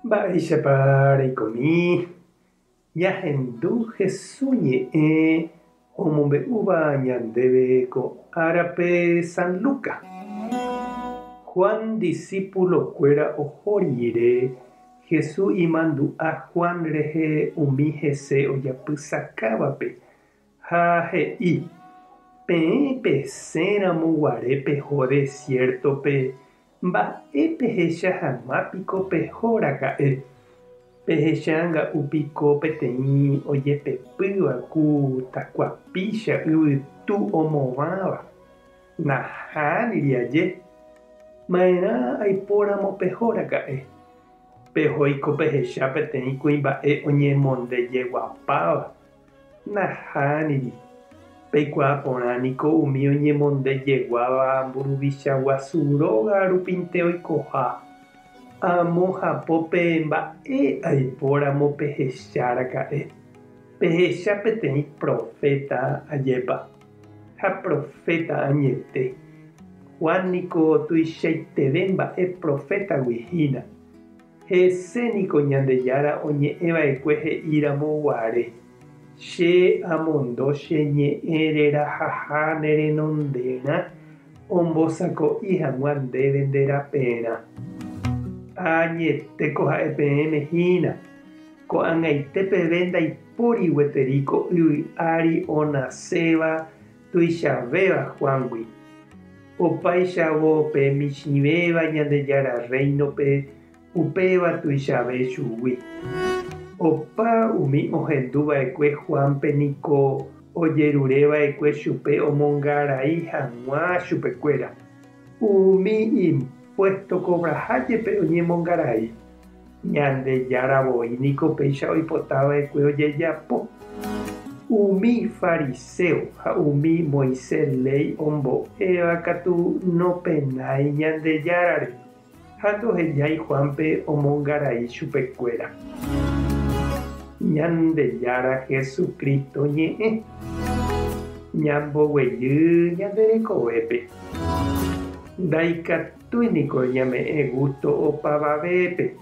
Mba'éichapa reikomi ñahendu Jesús ñe'ẽ omombe'úva ñandéve ko árape San Lucas? Juan disípulokuéra oho rire Jesús imandu'a Juan rehe umi hese ojapysakávape Ha he'i, Peẽ pesẽ ramo guare peho desiértope, mba'e pehecha hag̃ua piko peho raka'e? Pehechanga'u piko peteĩ ojepepýva ku takuapícha yvytu omovãva? Nahániri aje! Maerã aipo ramo peho raka'e? Pehoíko pehecha peteĩ kuimba'e oñemondejeguapáva Nahániri. Peikuaa porã niko umi oñemondejeguáva mburuvicha guasu róga rupinte oikoha. Amo hapópe mba'e aipóramo pehecha raka'e. Pehecha peteĩ proféta ajépa. Ha proféta añete. Juan niko tuichaiteve mba'e profétagui hína. Hese niko Ñandejára oñe'ẽva'ekue he'íramo guare, Che amondo che ñe'ẽ rerahaha ne renonderã ombosako'i hag̃ua ndéve nde raperã. Ha añetéko ha'e peẽme hína, ko'ag̃aite peve ndaipóri gueteri ko yvy ári onaséva, tuichavéva Juángui. Opaichavo pe michĩvéva Ñandejára Rréinope upéva tuichave chugui. Opa umi ohendu va'ekue Juánpe niko ojerure va'ekue chupe omongarai hag̃ua chupekuéra. Umi impuésto kovraha jepe oñemongarai, Ñandejára voi niko péicha oipota va'ekue ojejapo. Umi fariséo ha umi Moisés léi ombo'éva katu nopenái Ñandejárare. Ha ndohejái Juánpe omongarai chupekuéra. Ñandejára Jesucristo ñe'ẽ. Ñamboguejy ñande rekovépe. Ndaikatúi niko ñame'ẽ gusto opavavépe.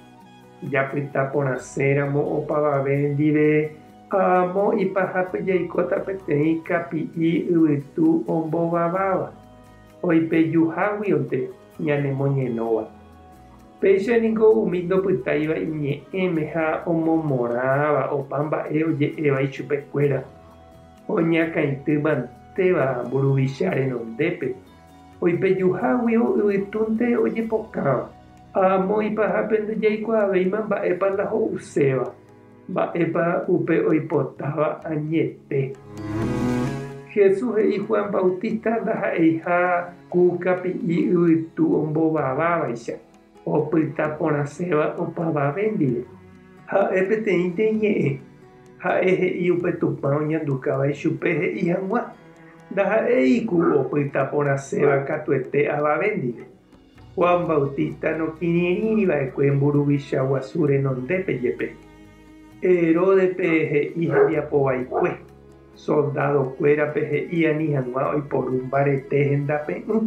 Japyta porãse ramo opavave ndive amo ipahapy jaikóta peteĩ kapi'i yvytu ombovaváva. oipejuháguionte ñanemoñenóva. Péicha ningo umi ndopytáiva iñe'ẽme ha omomorãva opa mba'e oje'éva ichupekuéra, oñakãity mantéva mburuvicha renondépe, oipejuháguio yvytúnte ojepokãva. Amoĩpa hápe ndojaikuaavéima mba'épa ndaho'uséva. Mba'épa upe oipotáva añete? Jesús he'i Juan Bautista ndaha'eiha ku kapi'i yvytu ombovávavaicha, opyta porãséva opavave ndive. Ha'e peteĩnte iñe'ẽ. Ha'e he'i upe Tupã oñandukáva ichupe he'i hag̃ua. Ndaha'éi ku opyta porãséva katuete avave ndive. Juan Bautista nokirirĩri va'ekue mburuvicha guasu renondépe jepe, Heródepe he'i hembiapo vaikue, soldádo kuérape he'i ani hag̃ua oiporu mbarete hendape'ỹ,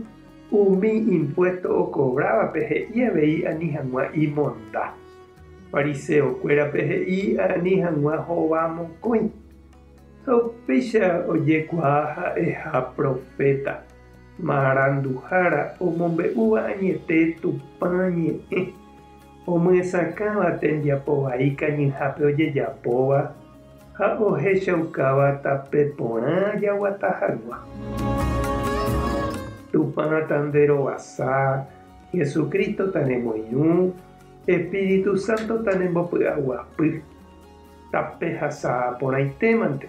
umi impuésto okovrávape he'i avei ani hag̃ua imonda, fariseo kuérape he'i ani hag̃ua hova mokõi. Ha upéicha ojekuaa ha'eha proféta. Maranduhára omombe'úva añete Tupã ñe'ẽ, omyesakãva tembiapo vai kañyhápe ojejapóva ha ohechaukáva tape porã jaguata hagua. Tupã tanderovasa, Jesucristo tanemoirũ, Espíritu Santo tanembopy'aguapy, tape hasa'aporãitémante.